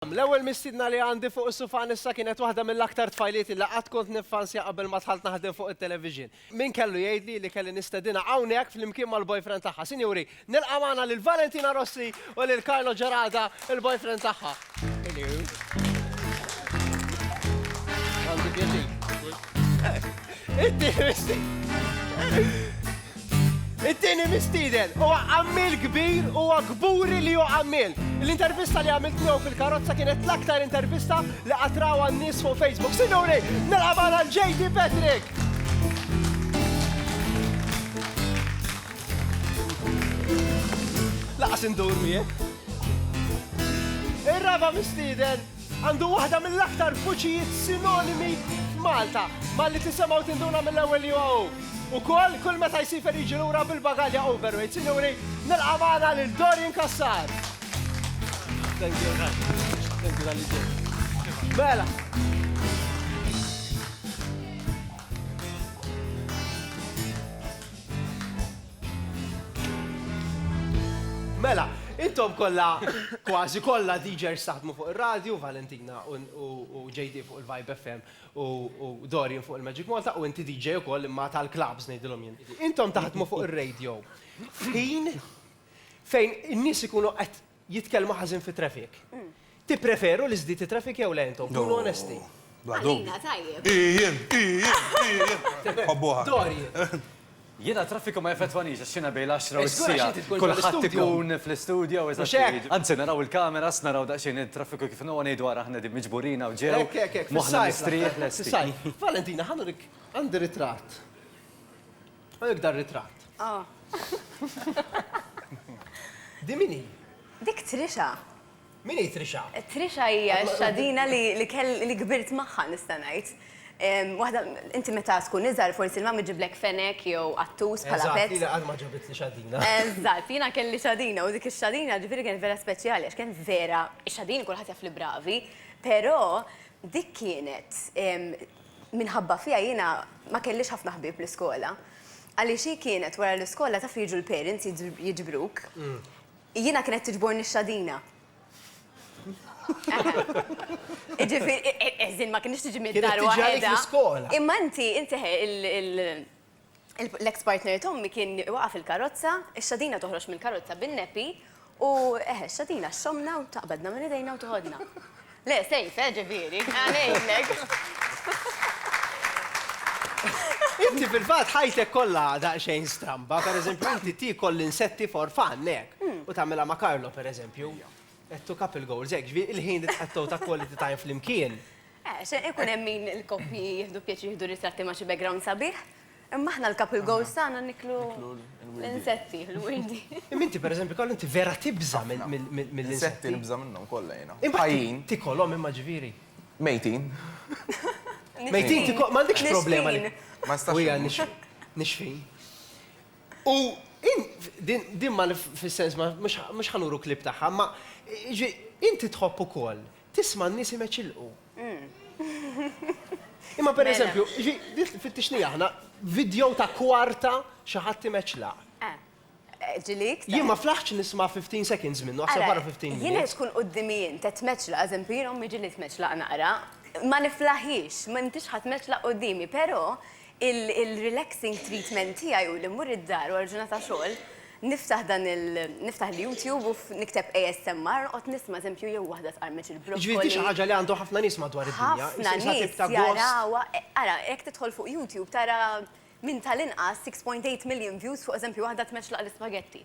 L-ewwel mistiedna li għandi fuq is-sufan issa kienet waħda mill-aktar tfajlieti li qatt kont niffansja qabel ma dħalt naħdem fuq it-television. Min kellu jgħidli li kelli nistedinha hawnhekk flimkien mal-boyfriend tagħha. Sinjuri, nilqa' magħna lil Valentina Rossi u lil Carlo Gerada, il-boyfriend tagħha. Għandi pjaċir. Inti misti. It-tieni mistieden huwa għammiel kbir u huwa kburi li hu għammiel. L-intervista li għamilt miegħu fil-karozza kienet l-aktar intervista li qatt rawha n-nies fuq Facebook. Sinjuri, nilqa' magħna l-JD Patrick! Laqas indur miegħek. Ir-raba' mistieden Għandu waħda mill-aktar vuċijiet sinonimi f'Malta. Malli tisemgħu tinduna mill-ewwel li huwa hu. Ukoll, kull meta jsifer jiġi lura bil-bagalja overweight. Sinjuri, nilqa' magħna lil Dorian Cassar! Thank you, thank you tal-li ġejt. Mela. Mela, intom kollha kważi kollha DJers taħdmu fuq ir-radju, Valentina u JD fuq il-Vibe FM u Dorian fuq il-Magic Malta u inti DJ ukoll imma tal-clubs ngħidilhom jien. Intom taħdmu fuq ir-radio f'ħin fejn in-nies ikunu qed jitkellmu ħażin fit-traffic. Tippreferu li żdied it-traffic jew le intom? Kunu onesti. Bla dubju. Għalina tajjeb. Hi jien, hi jien, hi jien. Nħobbuha. Dorian. Jiena t-traffiku ma jeffettwaniex għax jiena bejn l-għaxra u s-siegħa kulħadd ikun fl-istudjo, eżatt. Anzi naraw il-kameras, naraw daqsxejn it-traffiku kif inhu u ngħidu ara aħna qegħdin miġburin hawn ġew, moħħna mistrieħ lesti. Valentina, ħa nurik, għandi ritratt. U jekk dan ritratt? Din min hi? Dik Trisha. Min hi Trisha? Trisha hija x-xadina li kbirt magħha nista' ngħid. Waħda, inti meta tkun iżgħar forsi l-mami ġġiblek fenek jew qattus bħala pet. Eżatt, jiena qatt ma ġabitli xadina. Eżatt, jiena kelli xadina u dik ix-xadina ġifieri kienet vera speċjali għax kienet vera, ix-xadini kulħadd jaf li bravi, però dik kienet Minħabba fiha jiena ma kellix ħafna ħbieb l-iskola. Għaliex hi kienet wara l-iskola taf li jiġu l-parents jiġbruk. Jiena kienet tiġborni x-xadina. Jiġifieri, as in ma kienx tiġi mid-dar waħedha. Kienet tiġi għalik l-iskola. Imma inti, inti L-eks partner t'ommi kien waqa' fil-karozza, ix-xadina toħroġ mill-karozza bin-neppi u eħe, x-xadina xxommna u taqbadna minn idejna u tiħodna. Le, sejf, eh, ġifieri. Għanejnek. Inti fil-fatt ħajtek kollha daqsxejn stramba, pereżempju inti tiekol l-insetti for fun, hekk? U tagħmilha ma' Carlo pereżempju. Qed to couple goals, hekk, ġifieri l-ħin li tqattgħu ta' quality time flimkien. Eh, se ikun hemm min il-koppji jieħdu pjaċir jieħdu ritratti ma' xi background sabiħ, imma aħna l-couple goals tagħna niklu l-insetti, l-wirdi. Imma inti pereżempju Karl inti vera tibża' mill-insetti. L-insetti nibża' minnhom kollha jiena. Ħajjin. Tikolhom imma ġifieri. Mejtin. Mejtin tikolhom, m'għandekx problema li. Nixfin. Ma nistax. U hija nixfin. Nixfin. U din ma fis-sens mhux ħa nuru clip tagħha, imma inti tħobb ukoll Tisma' n-nies imeċilqu. Imma pereżempju, fittixni aħna vidjow ta' kwarta xi ħadd imeċlaq. Ġilik? Jien ma flaħtx nisma' 15 seconds minnu, aħseb wara 15 minnu. Jien qed tkun quddiemi jien qed tmeċlaq, eżempju, jien ommi ġieli tmeċlaq naqra, ma niflaħhiex, m'intix ħa tmeċlaq quddiemi, però Il-relaxing treatment tiegħi hu li mmur id-dar wara ġurnata xogħol, niftaħ dan il-, niftaħ l-YouTube u nikteb ASMR, noqgħod nisma' eżempju jew waħda tqarmeċ il-broccoli. Jiġifieri di xi ħaġa li għandu ħafna nies madwar id-dinja, isha tip ta' gost. Ħafna nies jarawha, ara jekk tidħol fuq YouTube tara minn tal-inqas 6.8 million views fuq eżempju waħda tmexxlaq l-ispagetti.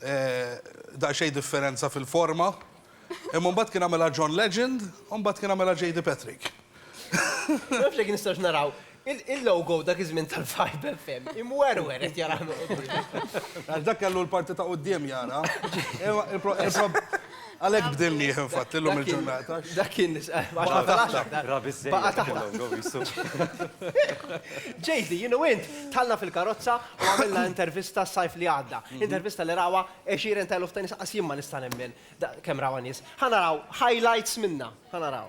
Daqsxejn differenza fil-forma. Imma mbagħad kien għamilha John Legend u mbagħad kien għamilha JD Patrick. Ma nafx jekk nistgħux naraw il-logo dak iż-żmien tal-Vibe FM imwerwer qed jarah minn quddiem. Għax dak kellu l-parti ta' quddiem jara. Għalhekk bdilnieh infatti llum il-ġurnata. Dak kien Baqa' taħt. Baqa' taħt. Jay-Z, jien u int dħalna fil-karozza u għamilna intervista s-sajf li għadda. Intervista li rawha għexieren ta' eluf ta' nies, qas jien ma nista' nemmen kemm rawha nies. Ħa naraw highlights minnha. Ħa naraw.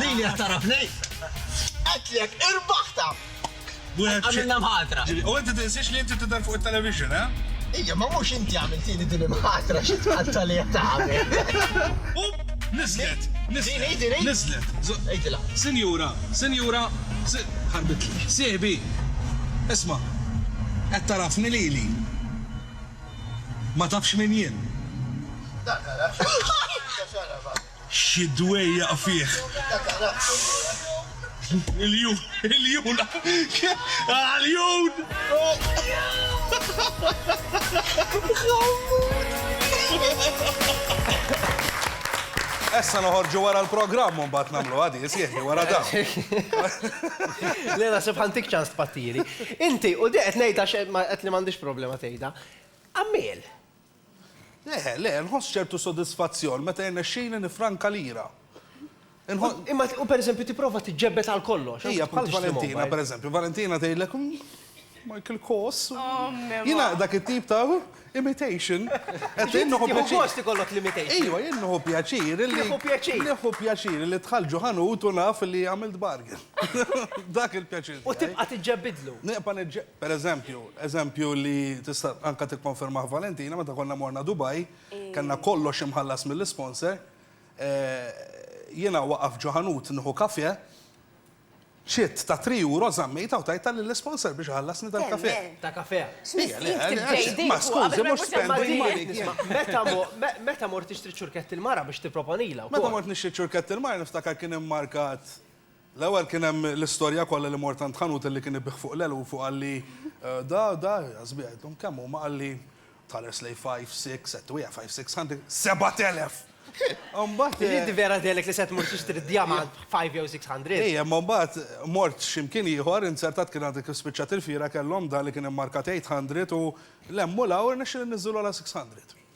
Lili qed tara f'nejn. Qedtlek, irbaħtha! Għamilna mħatra. U inti tinsiex li inti tidher fuq it-television, eh? Ija, ma mhux inti għamiltili din il-mħatra xi tqatta li qed tagħmel. Niżlet, niżlet, niżlet. Għidilha. Sinjura, sinjura, ħarbitli. Sieħbi, isma', qed tarafni lili. Ma tafx min jien. Dak għalha. Xi dwejjaq fih. Il-ljun, il-ljun, ah l-ljun! Essa noħorġu wara l-programm u mbagħad nagħmluha di, sieħbi wara dan. Le naħseb ħa ntik ċans tpattieli. Inti, u di qed ngħidha għax qed li m'għandix problema tgħidha, għammiel. Le, le, nħoss ċertu sodisfazzjon meta jirnexxili nifranka lira. Imma u pereżempju tipprova tiġġebbed għal kollox. Ija, bħal Valentina, pereżempju, Valentina tgħidlek Michael Kors. Oh, Jiena dak it-tip ta' imitation. Qed inħu pjaċir. ikollok l-imitation. Ejwa, jien nħu pjaċir li. Nħu pjaċir. Nħu pjaċir li tħall ġuħanut u naf li għamilt bargain. Dak il-pjaċir. U tibqa' tiġġebbidlu. Nibqa' Per eżempju, eżempju li tista' anke tikkonfermah Valentina, meta konna morna Dubai, kellna kollox imħallas mill-isponsor, jiena waqaf ġo ħanut nieħu kafè, ċitt ta' three euro żammejtha u tajtha lill-isponsor biex iħallasni tal-kafè. Ta' kafè. Ma skużi, mhux spending money kien. Meta mort tixtri ċ-ċurketti l-mara biex tipproponilha wkoll. Meta mort nixtri ċ-ċurketti l-mara niftakar kien immarkat. L-ewwel kien hemm l-istorja kollha li mort għand ħanut li kien ibigħ fuq l-għeluf u qalli, Da, da, jażbigħ, għidthom kemm huma? Qalli, Tħares lejn five, six, qed twiegħ five, six hundred, sebat elef! Imbagħad. Ġiet tivvera tgħidlek li se tmur tixtri d-djamant b' five jew six hundred. Ejja, imma mbagħad mort xi mkien ieħor, inzertat kien għad kif spiċċat il-fiera kellhom dan li kien immarkat eight hundred u lemmu l-għawr irnexxieli nniżżilhu għala six hundred.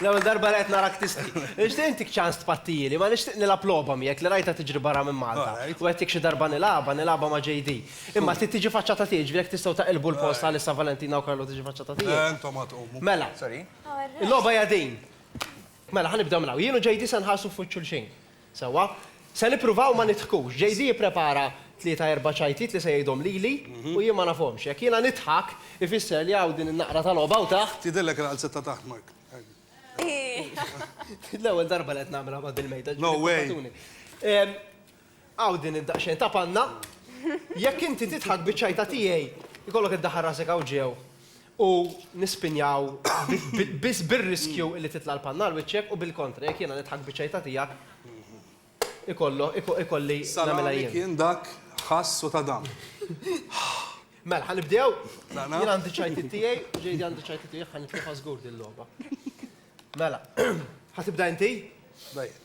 L-ewwel darba li qed narak tisti. Nixtieq intik ċans tpattijieli, ma nixtieq nilgħab logħba miegħek li rajtha tiġri barra minn Malta. U għedtik xi darba nilgħabha, nilgħabha ma' JD. Imma trid tiġi faċċa ta' tiegħi, ġifieri jekk tistgħu taqilbu l-post għalissa Valentina u Carlo tiġi faċċa ta' tiegħi. Le, intom għad tqumu. Mela. Sorry. Il-logħba hija din. Mela, ħa nibdew minn hawn. Jien u JD se nħarsu f'wiċċ xulxin. Sewwa. Se nippruvaw ma nidħkux. JD ipprepara tlieta erba' ċajtiet li se jgħidhom lili u jien ma nafhomx. Jekk jiena nidħak, ifisser li hawn din in-naqra ta' logħba hawn taħt. Tidhirlek il-qalzett ta' taħt, Mark. Hi. L-ewwel darba li qed nagħmilha ma' bil-mejda, ġifieri ippermettuli. Hawn din id-daqsxejn ta' panna. Jekk inti tidħak biċ-ċajta tiegħi, ikollok iddaħħal rasek hawn ġew u nispinjaw biss bir-riskju li titla' l-panna għal wiċċek u bil-kontra jekk jiena nidħak biċċejta tiegħek ikollu ikolli nagħmilha jien. Salami kien dak ħass u ta' dam. Mela ħa nibdew? Tlaqna? Jien għandi ċajtiet tiegħi u JD għandu ċajtiet tiegħu jekk ħa nitlifha żgur din logħba. Mela, ħa tibda inti? Bda jien.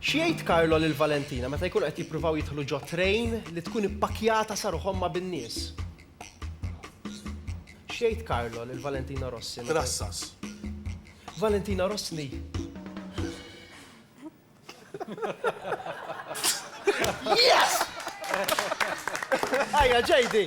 X'jgħid Carlo lil Valentina meta jkunu qed jippruvaw jidħlu ġo train li tkun ippakkjata sa ruħhom ma' bin-nies? X'jgħid Carlo lil Valentina Rossi meta. Trassas. Valentina Rossni. Yes! Ajja, JD!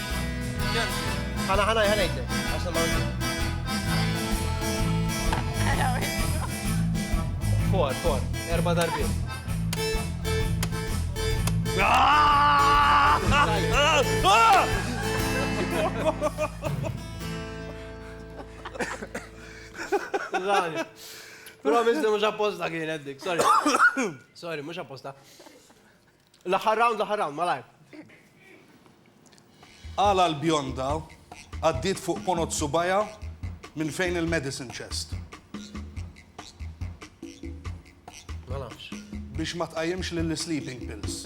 Ħana, ħana, ħana jgħidlek. Għaxan ma' Fuar, fuar, erba darbi. Zani. Promis li mux apposta kien eddik, sorry. Sorry, mux apposta. L-aħħar round, l-aħħar round, malajr. Għala l-bionda għaddiet fuq ponot subgħajha minn fejn il-medicine chest? Ma nafx. Biex ma tqajjimx lill-sleeping pills.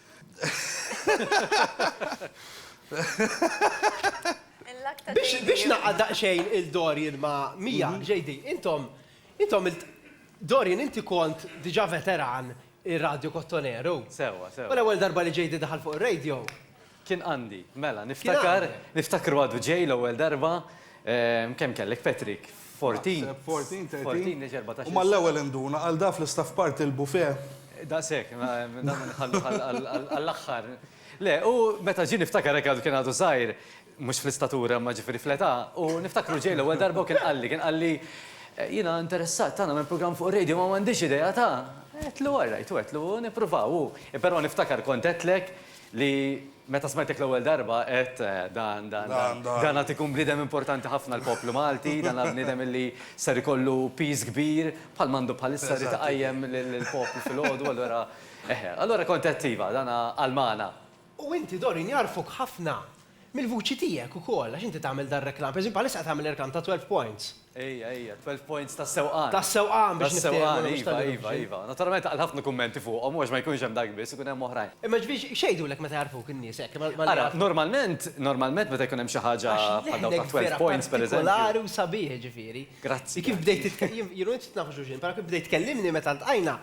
Biex naqqa' daqsxejn il Dorian ma' Mia, JD, intom, intom il Dorian inti kont diġà veteran ir-radju kottoneru. Sewwa, sewwa. U l-ewwel darba li JD daħal fuq ir-radju. Kien għandi, mela, niftakar, niftakru għadu ġej l-ewwel darba, kemm kellek Patrick? 14. Naħseb 14, 13. 14 li ġie 14. U mal-ewwel induna, għal da fl-istaff part il-buffet. Daqshekk, ma dan ma nħalluh għall-aħħar. Le, u meta ġie niftakar hekk għadu kien għadu żgħir, mhux fl-istatura imma ġifieri fl-età, u niftakru ġej l-ewwel darba u kien qalli, kien qalli, Jiena interessat ta' nagħmel programm fuq ir-radio imma m'għandix idea ta'. Għedtlu, all right, u għedtlu, u nippruvaw, u. Però niftakar kont għedtlek, Li meta smajtek l-ewwel darba għedt, Dan, dan, dan, dan għad ikun bniedem importanti ħafna għall-poplu Malti, dan għad bniedem li ser ikollu piż kbir, bħal m'għandu bħalissa, jrid iqajjem lill-poplu filgħodu, allura, eħe. Allura kont għedt, iva, dan għal magħna. U inti, Doreen, jagħrfuk ħafna. Mill-vuċi tiegħek ukoll, għax inti tagħmel dar-reklam. Pereżempju bħalissa qed tagħmel reklam ta' Twelve Points. Ejja, ejja, Twelve Points tas-sewqan. Tas-sewqan biex niftehmu, mhux tal-illusion. Iva, iva, iva. Naturalment għal ħafna kummenti fuqhom, u għax ma jkunx hemm dak biss, ikun hemm oħrajn. Imma jiġifieri x'jgħidulek meta jagħrfuk in-nies hekk? Ara, normalment, normalment meta jkun hemm xi ħaġa bħal dawk ta' Twelve Points pereżempju. Għax leħnek vera partikolari u sabiħ jiġifieri. Grazzi. Kif bdejt, jiena u int nafux xulxin, però kif bdejt tkellimni meta ltqajna,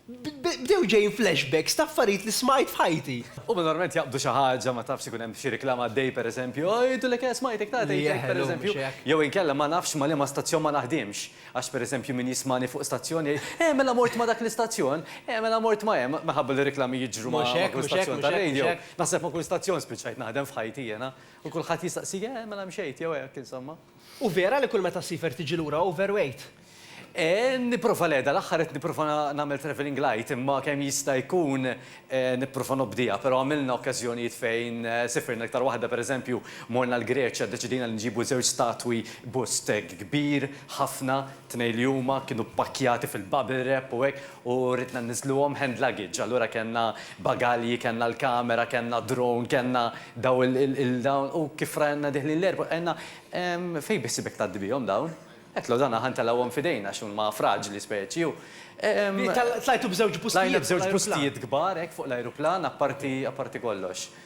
Bdew ġejjin flashbacks ta' affarijiet li smajt f'ħajti. Huma normalment jaqbdu xi ħaġa, ma tafx ikun hemm xi riklama għaddej pereżempju, ah jgħidulek eh smajtek ta' tgħidlek pereżempju, jew inkella ma nafx ma' liema stazzjon ma naħdimx, għax pereżempju min jismagħni fuq stazzjon jgħid, eh mela mort ma' dak l-istazzjon, eh mela mort ma' hemm, minħabba li r-riklami jiġru ma' kull stazzjon ta' radio. Naħseb ma' kull stazzjon spiċċajt naħdem f'ħajti jiena, u kulħadd jistaqsik eh mela mxejt jew hekk insomma. Hu vera li kull meta ssifer tiġi lura overweight? Nipprova le, dal-aħħar qed nipprova nagħmel travelling light imma kemm jista' jkun nipprova nobdiha però għamilna okkażjonijiet fejn sifirna iktar waħda pereżempju morna l-Greċja ddeċidejna li nġibu żewġ statwi bust hekk kbir ħafna Tnejn li huma kienu ppakkjati fil-bubble wrap u hekk u ridna nniżluhom hand luggage. Allura kellna bagalji, kellna l-kamera, kellna drone, kellna daw il-dawn u kif rajna deħlin l-airport għidna, Ehm, fejn biħsibek tgħaddi bihom dawn? Għedtlu, Dan aħna ntelgħuhom f'idejna għax huma fraġli speċi u ehm. Tlajtu b'żewġ bustijiet fuq l-ajruplan. Tlajna b'żewġ bustijiet kbar hekk fuq l-ajruplan apparti apparti kollox.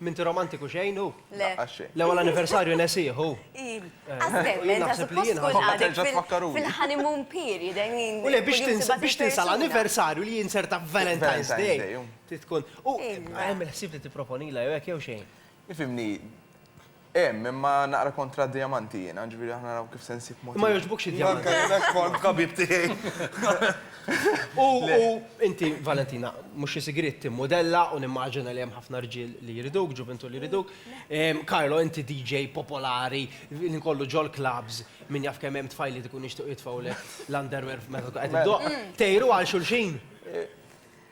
M'inti romantiku xejn hu? Le. L-ewwel anniversarju nesih hu. Iv. Għażbel, ma inti suppost tkun għadek fil-honeymoon period, I mean. U le biex tinsa biex tinsa l-anniversarju li jinserta f'Valentine's Day. Trid tkun. U hemm il-ħsieb li tipproponilha jew hekk jew xejn. Ifhimni. Hemm, imma naqra kontra d-dijamanti jiena, ġifieri aħna naraw kif se nsib mod. Ma jogħġbukx id-dijamanti. Anke jien hekk kont b'ħabib tiegħi. U inti, Valentina, mhux xi sigriet, timmudella u nimmaġina li hemm ħafna rġiel li jriduk, ġuvintur li jriduk. Carlo, inti DJ popolari li nkollu ġol-klabbs, min jaf kemm hemm tfajliet ikunu jixtiequ jitfgħulek l-underwear meta tkun qed iddoqq. Tgħiru għal xulxin?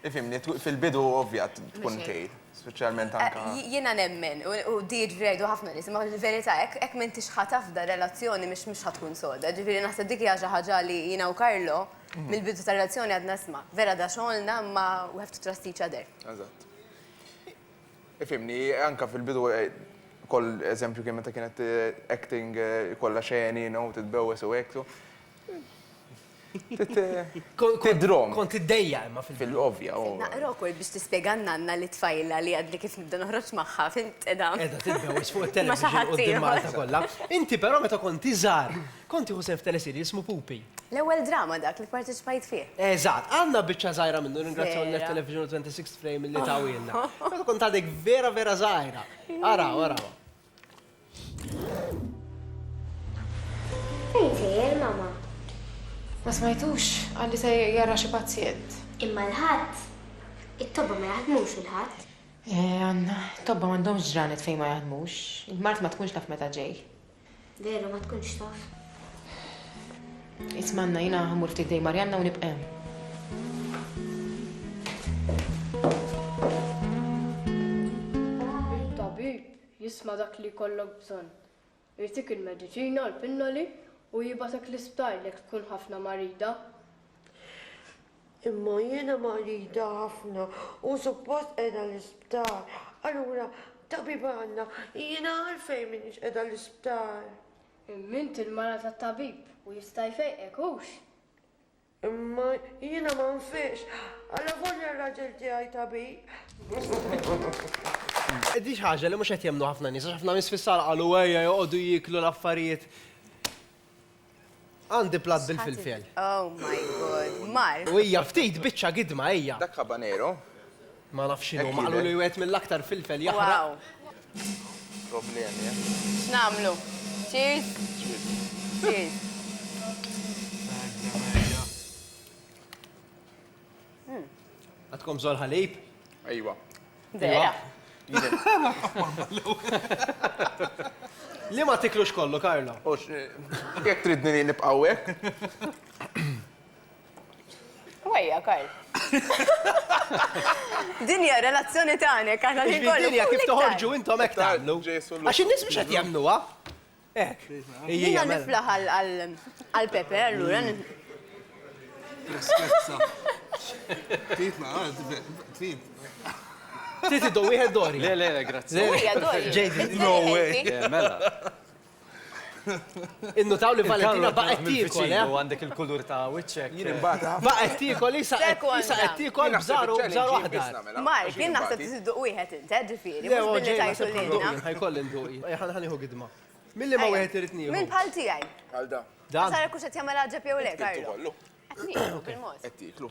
Ifimni, fil-bidu ovvja tkun kejl, speċjalment eh, anka. Jiena nemmen, u diġ vrejdu ħafna nies, ma l-verità hekk hekk minn tixħat afda relazzjoni mhix mhux ħatkun soda. Ġifieri naħseb dik hija xi ħaġa li jiena u Karlo mhm. mill-bidu tar-relazzjoni għadna sma. Vera da xogħolna ma we have to trust each other. Eżatt. Ifimni, anka fil-bidu eh, koll eżempju kien meta kienet eh, acting kollha xeni, no, titbewwes u hekk. Tidrom. Kont iddejja imma fil-bidu. Fil-ovja. Naqra wkoll biex tispjega n-nanna li tfajla li għadni kif nibda noħroġ magħha, fint qiegħda. Qiegħda tidbewwes fuq it-television quddiem Malta kollha. Inti però meta kont iżgħar, kont tieħu sehem f'teleserial jismu Pupi. L-ewwel drama dak li pparteċipajt fih. Eżatt. Għandna biċċa żgħira minnu, nirringrazzjaw lil Net-Television u Twenty Sixth Frame li tawhielna. Meta kont għadek vera vera żgħira. Araw, arawha. Ma smajtux, għalli se jara xi pazjent. Imma l-ħadd, it-tobba ma jaħdmux il-ħadd. Eh, Anna, tobba m'għandhomx ġranet fejn ma jaħdmux. Il-mart ma tkunx taf meta ġej. Veru, ma tkunx taf. Ismanna jina ħamur ftit dej Marjanna u nibqem. Tabib, jisma' dak li jkollok bżonn. Jagħtik il-mediċina u l-pinnoli u jibgħatek l-isptar jekk tkun ħafna marida. Imma jiena marida ħafna u suppost qiegħda l-isptar. Allura, tabib għandna, jiena għalfejn m'iniex qiegħda l-isptar? Imma int il-mara tat-tabib u jista' jfejqek, hux? Imma jiena ma nfiqx, allavolja r-raġel tiegħi tabib. Di xi ħaġa li mhux qed jemmnu ħafna nies, għax ħafna nies fis-sala qalu ejja joqogħdu jieklu l-affarijiet. Għandi plat bil-filfel. Oh my god, mar. U hija ftit biċċa gidma hija. Dak habanero Ma nafx x'inhu. Huma qalu li wieħed mill-aktar filfel jaħraq. Wow. Problemi, eh? X'nagħmlu? Cheers? Cheers. Hmm. Għadkom żol ħalib? Ejwa. Vera. Li ma tiklux kollu, Karlo? Jek tridni li nibqawek? Wejja, Karl. Din hija relazzjoni tagħnek, aħna li kollu. Dinja kif toħorġu intom hekk tagħmlu. Għax in-nies mhux qed jagħmluha. Hekk. Jiena mela. niflaħ għal Pepe allura. Tristezza. Trid ma trid. Trid idu wieħed dori. Le, le, grazzi. Ġejdi. No way. Mela. Innutaw li Valentina baqgħet tiekol, eh? Għandek il-kulur ta' wiċċek. Jien imbagħad. Baqgħet tiekol isa isa qed tiekol bżaru bżaru aħdar. Mark, jien naħseb tiżduq wieħed int, eh, ġifieri, mhux billi tajtu lilna. Ħajkoll induqi. Ħa nieħu gidma. Milli ma wieħed irid nieħu. Min bħal tiegħi. Bħal da. Da. Sara kux qed jagħmel ħaġa jew le, Karlo. Qed nieħu bil-mod. Qed tieklu.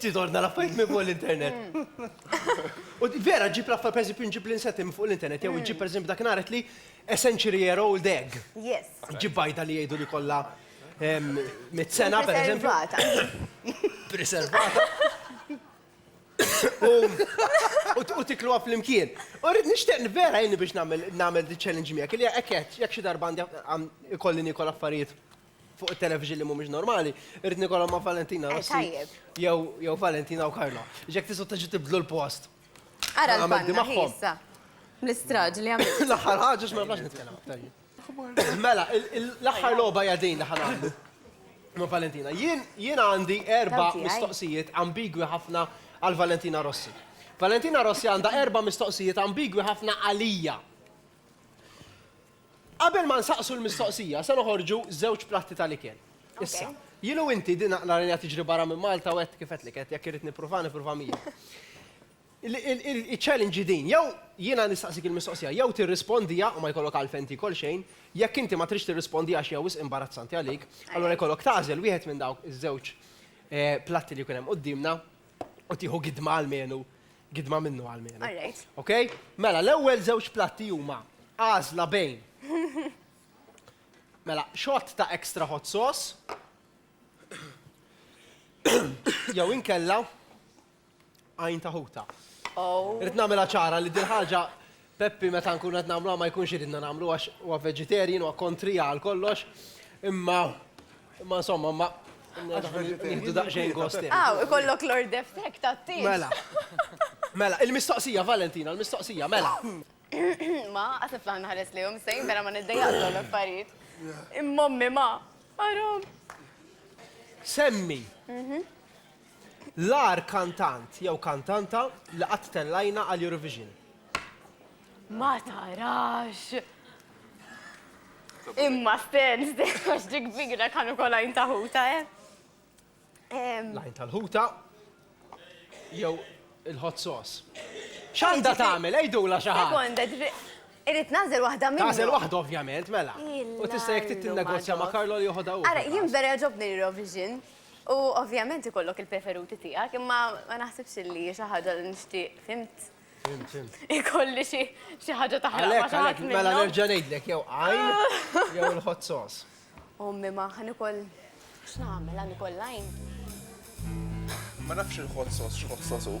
Ftit ordna l-affarijiet minn fuq l-internet. U vera ġib l-affar per eżempju nġib l-insetti minn fuq l-internet, jew ġib per eżempju dak naret li a century year old egg. Yes. Ġib bajda li jgħidu li kollha mit sena per eżempju. Preservata. U tiklu għaf l-imkien. U rrid nixtieq vera jgħinni biex nagħmel di challenge miegħek, li hekk jekk xi darba għandi ikolli nikol affarijiet fuq it-television li mhumiex normali, irrid nikolhom ma' Valentina Rossi. Jew Valentina u Karla. Ġek tisu tiġi tibdlu l-post. Ara l-panna ħissa. L-istraġ li għamil. L-aħħar ħaġa x'ma nafx nitkellem aktar. Mela, l-aħħar logħba hija din li ħanamlu. Ma' Valentina. Jien għandi erba' mistoqsijiet ambigwi ħafna għal Valentina Rossi. Valentina Rossi għandha erba' mistoqsijiet ambigwi ħafna għalija. Qabel ma nsaqsu l-mistoqsija, se noħorġu żewġ platti tal-ikel. Issa, jien u inti din naqra rajna tiġri barra minn Malta u għedt kif għedtlek għedt jekk irrid nippruvaha nipprova miegħek. Il-challenge hi din, jew jiena nistaqsik il-mistoqsija, jew tirrispondiha u ma jkollok għalfejn tiekol xejn, jekk inti ma tridx tirrispondiha għax hija wisq imbarazzanti għalik, allura jkollok tagħżel wieħed minn dawk iż-żewġ platti li jkun hemm quddiemna u tieħu gidma almenu Gidma minnu għal mienu. All right. Ok? Mela, l-ewwel żewġ platti huma għażla bejn. Mela, xott ta' extra hot sauce. Jew inkella għajn ta' ħuta. Oh. Rrid nagħmilha ċara li din ħaġa Peppi meta nkunu qed nagħmluha ma jkunx iridna nagħmlu għax huwa vegetarian huwa kontrija għal kollox imma imma insomma imma nieħdu daqsxejn gost. Aw, ikollok l-ordef tiegħek tat-tieġ. Mela. Mela, il-mistoqsija Valentina, il-mistoqsija, mela. Ma, qatt niflaħ nħares lejhom sejn mela ma niddejjaqx dawn l-affarijiet. Imma ommi ma, haram. Semmi L-agħar kantant jew kantanta li qatt tellajna għal Eurovision. Ma tarax! Imma Stens, għax dik bigra kan ukoll għajn ta' ħuta, eh? L-għajn tal-ħuta jew il-hot sauce. X'għandha tagħmel, għidula xi ħadd. Sekonda, ġifi, irrid nażel waħda minnhom. Tażel waħda ovvjament, mela. U tista' jekk trid tinnegozja ma' Karlo li joħodha hu. Ara, jien vera jogħġobni l-Eurovision. U ovvjament ikollok il-preferuti tiegħek, imma ma naħsibx li hi xi ħaġa li nixtieq, fhimt? Fhimt, fhimt. Ikolli xi xi ħaġa taħraq ma' xi ħadd minnhom. Għalhekk, għalhekk, mela nerġa' ngħidlek jew għajn jew il-hot sauce. Ommi ma ħa nikol x'nagħmel, ħa nikol l-għajn? Ma nafx il-hot sauce x'hot sauce hu.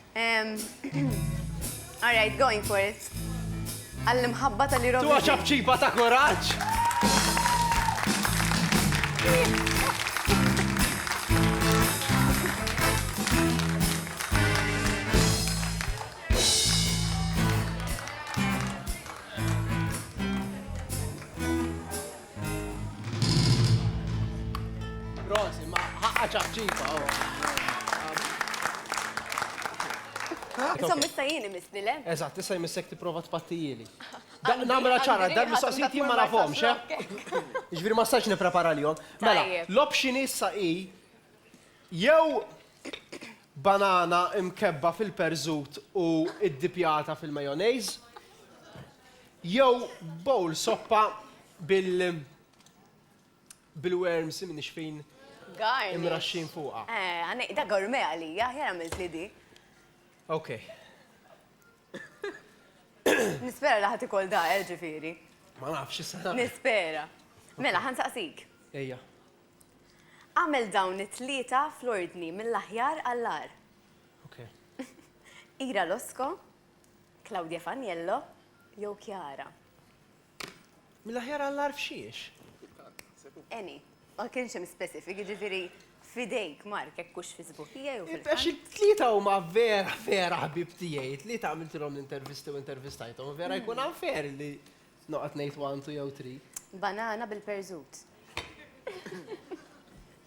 All right, going for it. Għall-imħabba tal-Eurovision. Tuwa ċabċiba ta' kuraġġ! Rosi, ma ħaqqa ċaċċipa, Insomma, issa jien imisni le? Eżatt, issa jmissek tipprova tpattijili. Namela ċara, dan mistoqsijiet jien ma nafhomx, eh? Ġifieri ma stax nipprepara lihom. Mela, l-option issa hi jew banana imkebba fil-perżut u iddipjata fil-majonejż, Jew bowl soppa bil bil-worms imnixfin Garni. imraxxin fuqha. Eh, għanej, da gourmet għalija, aħjar għamilt li di. Ok. Nispera li ħadd ikol da, eh, ġifieri. Ma nafx issa nagħmel. Nispera. Mela, ħansaqsik. Ejja. Għamel dawn it-tlieta fl-ordni mill-aħjar għall-agħar. Ok. Ira Losko, Claudia Faniello jew Chiara? Mill-aħjar għall-agħar f'xiex? Any. Ma kienx hemm specific, jiġifieri f'idejk Mark hekk hux fi sbuħija jew fil-ħank? Għax it-tlieta huma vera, vera ħbieb tiegħi. It-tlieta għamiltilhom l-intervisti u intervistajthom u vera jkun unfair li noqgħod ngħid one, two jew three. Banana bil-perżut.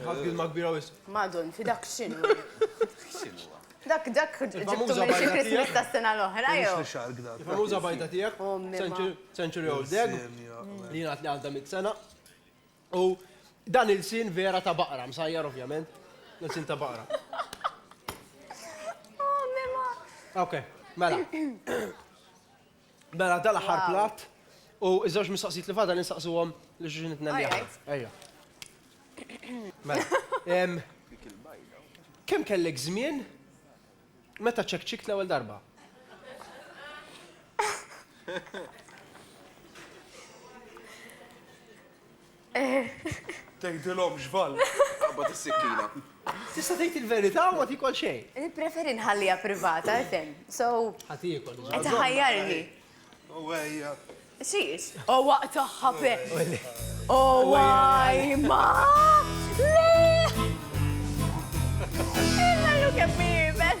Ħadd kilma kbira wisq. Madon, fidak x'inhu? X'inhu? Dak dak ġibtu minn xi Christmas tas-sena l-oħra jew? Il-famuża bajda tiegħek, Century Old Egg, li jingħad li għandha mitt sena. U dan il-sin vera ta' baqra, msajjar ovvjament, il-sin ta' baqra. Oh, mema! Ok, mela. Mela dal-aħħar platt u ż-żewġ mistoqsijiet li fadal insaqsuhom lil xulxin it-tnejn li aħna. Ejja. Mela. Kemm kellek żmien meta ċekċikt l-ewwel darba? Tgħidilhom x'ball. Qabad is-sikkina. Tista' tgħid il-verità u ma tiekol xejn. Nippreferi nħalliha privata għax hemm. So. Ħa tiekol diġà. Qed iħajjarni. O wejja. X'hiex? O waqt tagħha pe. O wajma! Le! Illa llum kemm hi iebes!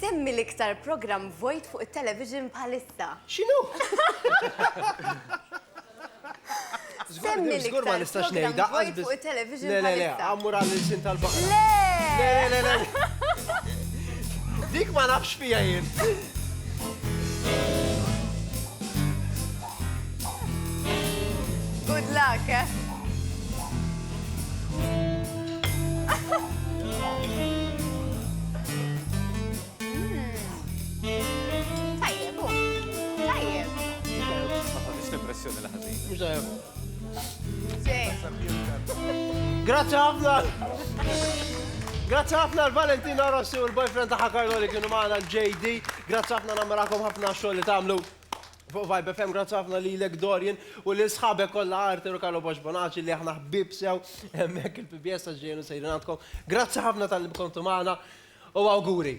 Semmi l-iktar programm vojt fuq it-television bħalissa. X'inhu? Żgur ma nistax ngħidha. Le, le, le, ammur għall-ilsien tal-baqra. Le! Le, le, le, le, le. Dik ma nafx fiha jien. Good luck, eh? Grazie ħafna! Grazie ħafna l-Valentina Rossi u l-boyfriend ta' Carlo li kienu maħna l-JD. Grazie ħafna namrakom ħafna xogħol li tagħmlu. Fuq Vibe FM, grazzi ħafna lilek Dorian u lil sħabek kollha Arthur u Carlo Bosch Bonacci li aħna ħbieb sew hemmhekk il-PBS għax ġejjin u sejrin għandkom. Grazzi ħafna talli bkontu magħna u awguri.